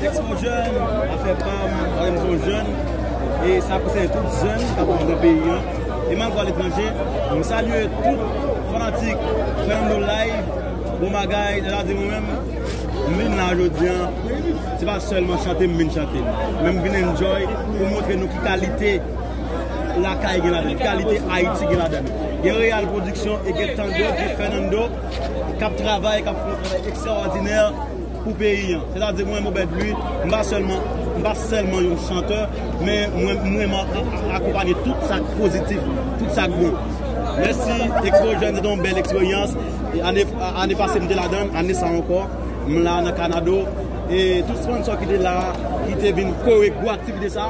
Ex son jèn, afè pam, marem son jèn, e sa konsène tout jèn kap viv nan peyi an, e malgre a letranje, m salye tout fanatik Fernando Live, bon bagay, deja di mwen menm, m vin la jodi an, se pa sèlman chante m vin chante, men m vin enjoy pou montre nou ki kalite lakay gen ladan, ki kalite Ayiti gen ladan, gen Real Production e gen Tandeo, gen Fernando kap travay, kap fè yon travay ekstraòdinè. pou peyi an. Se ta di mwen Obed Louis, m pa sèlman, m pa sèlman yon chantè, men mwen mwen akonpanye tout sa k pozitif, tout sa k bon. Mèsi Expo Jeunes se te yon bèl eksperyans. Ane ane pase m te ladan l, ane sa ankò m la nan Kanado e tout sponnsò ki te la, ki te vin kore pou aktivite sa.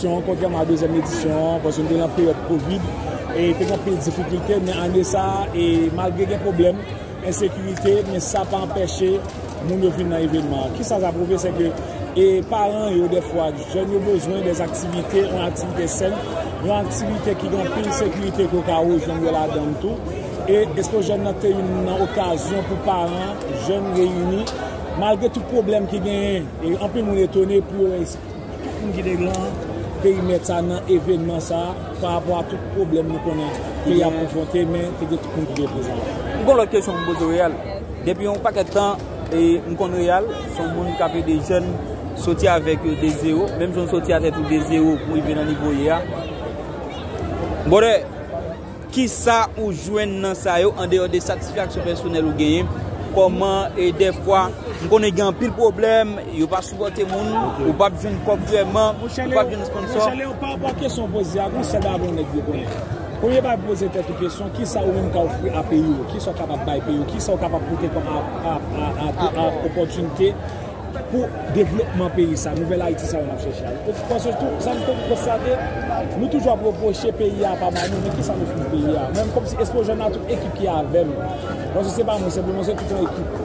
Kontrèman a dezyèm edisyon an, paske nou te nan peryòd kovid, e te gen anpil difikilte, men ane sa a, e malgre gen pwoblèm ensekirite, men sa pa anpeche moun yo vin nan evenman an. Kisa sa pwouve, se ke e paran yo defwa, jèn yo bezwen de aktivite, yon aktivite sèn, yon aktivite ki gen anpil sekirite ke w ka rejwenn yo ladan l tou. E Expo Jèn nan te youn nan okazyon pou paran, jèn reyini, malgre tout pwoblèm ki genyen, e anpil moun etone pou yo wè, Tout moun ki te nan perimèt sa nan evenman sa pa rapò a tout pwoblèm nou konnen peyi ap konfwonte men te gen tout moun ki te prezan la. M gon lòt kesyon pou m poze Real. Depi yon pakèt tan m konn Real se yon moun k ap ede jèn soti avèk yo de zewo menm jan w soti a tèt ou de zewo pou rive nan nivo w ye a. Brother! Kisa ou jwenn nan sa yo andeyò de satisfaksyon pèsonèl ou genyen? Kòman e dèfwa m konnen gen anpil pwoblèm, yo pa sipòte moun, ou p ap jwenn kòb vrèman, ou p ap jwenn esponnsò. Monchè Leon, parapò a kesyon ou poze a, gen yon sèl bagay mwen mèt vle konnen. Premye bagay pou poze tèt ou kesyon, kisa ou menm ka ofri a peyi ou? Kisa ou kapab bay peyi ou? Kisa ou kapab pote kòm apò, opòtinite? Pou devlopman peyi sa, nouvèl Ayiti sa yo n ap chèche a. Paske tou, sa nou toujou konstate, nou toujou ap repwoche peyi a pa ba nou, men ki sa nou fouti peyi a? Mwen kòmsi Expojeune ak tout ekip ki avè m, paske se pa mwen senpleman, se tout yon ekip,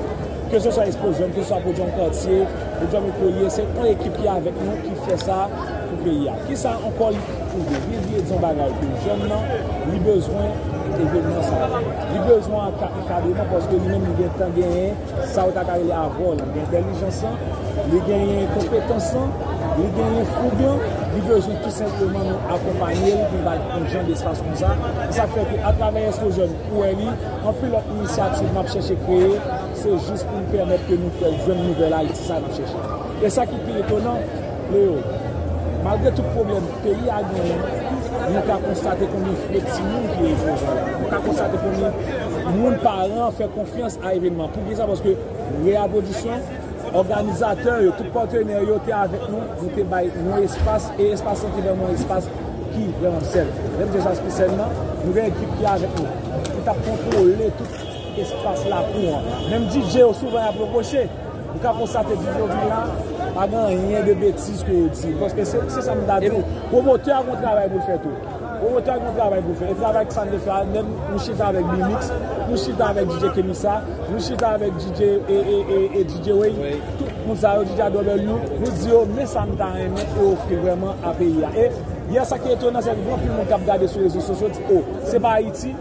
keseswa Expojeune, keseswa Podium Quartier, Podium Ecolie, se yon ekip ki avèk nou ki fè sa pou peyi a. Ki sa ankò li pwouve? Li di yon bagay ke jèn nan, li bezwen evenman sa yo. Li bezwen ankadreman paske li menm li gen tan genyen. Sa ou ta ka rele avò lan gen entèlijans lan, li genyen konpetans lan, li genyen foug lan, li bezwen tou senpleman nou akonpanye l pou n ba l yon jan despas konsa. Se sa k fè ke atravè Eskozèn ou wè li, anpil lòt inisyativ m ap chèche kreye, se jis pou m pèmèt ke nou fè l jwenn nouvèl Ayiti sa a n ap chèche. E sa ki pi etonan. Leo, malgre tout pwoblèm peyi a genyen, nou ka konstate konbyen fre timoun ki ekspoze la. Nou ka konstate konbyen moun, paran, fè konfyans a evènman. Pou ki sa? Paske Real Production, òganizatè yo, tout patenè yo te avèk nou, nou te bay yon espas, e espas lan te vèman yon espas ki vèman sèf. Lè m di espas ki sèf nan, nou gen ekip ki avèk nou, ki t ap kontwole tout espas lakou an. Menm DJ yo souvan y ap repwoche. Ou ka konstate depi yo vin la, pa gen anyen de betiz ke yo di. Paske se sa m ta di w, pwomotè a gen yon travay pou l fè tou. Pwomotè a gen yon travay pou l fè. E travay ke sa n dwe fè a, menm nou chita avèk B-mix, nou chita avèk DJ Kemisa, nou chita avèk DJ Wayne, tout moun sa yo, DJ Adrobew, nou di yo men sa n ta renmen e ofri vrèman a peyi a. E yè sa ki etonan se ke gen anpil moun k ap gade sou rezo sosyo di, o, se pa Ayiti.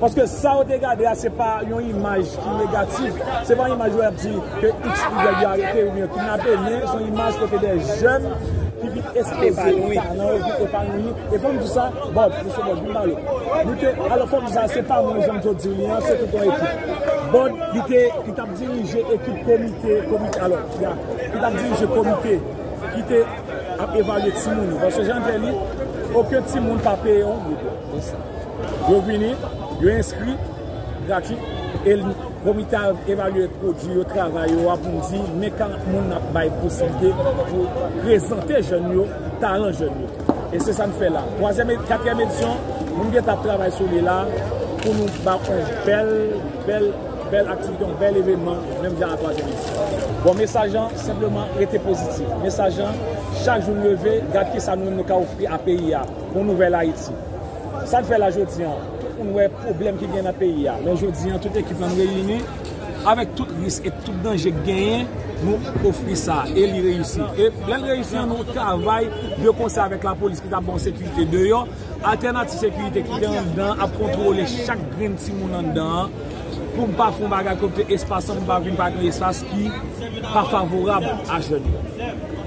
Paske sa yo te gade a se pa yon imaj ki negatif, se pa yon imaj wè ap di ke iks ou yèg yo arete oubyen kidnape men se yon imaj kote dè jèn ki vin espoze talan yo, vin epanouyi. E fòm di sa, Bob, Mesye Bob, vin pale. Li te, alò fòm di sa, se pa mwen janm toujou di li an, se tout yon ekip. Bob, li te, li t ap dirije ekip komite, komite, alò, ya, li t ap dirije komite ki te ap evalye timoun yo. Paske jan l te li, oken timoun pa peye yon goud. Yo vini, yo enskri gratis e komite a evalye pwodui yo, travay yo a pou di men 40 moun n ap bay posiblite pou prezante jèn yo, talan jèn yo. E se sa n fè la. Katriyèm edisyon nou gen tan ap travay sou li la pou nou ba on bèl, bèl, bèl aktivite, on bèl evenman menm jan a twazyèm edisyon. Bon mesaj lan senpleman rete pozitif. Mesaj lan chak jou n leve gad kisa nou menm nou ka ofri a peyi a. Bon nouvèl Ayiti. Sa n fè la jodi an, tout moun wè pwoblèm ki gen nan peyi a. Men jodi an, tout ekip la n reyini, avèk tout risk e tout danje k genyen, nou ofri sa. E li reyisi. E lè l reyisi an, nou travay de konsè avèk lapolis ki ta ban sekirite deyò. Altènativ sekirite ki gen anndan an ap kontwole chak grenn timoun anndan an pou m pa fè yon bagay kote espas an, pou m pa vin pa gen espas ki pa favorab a jèn yo.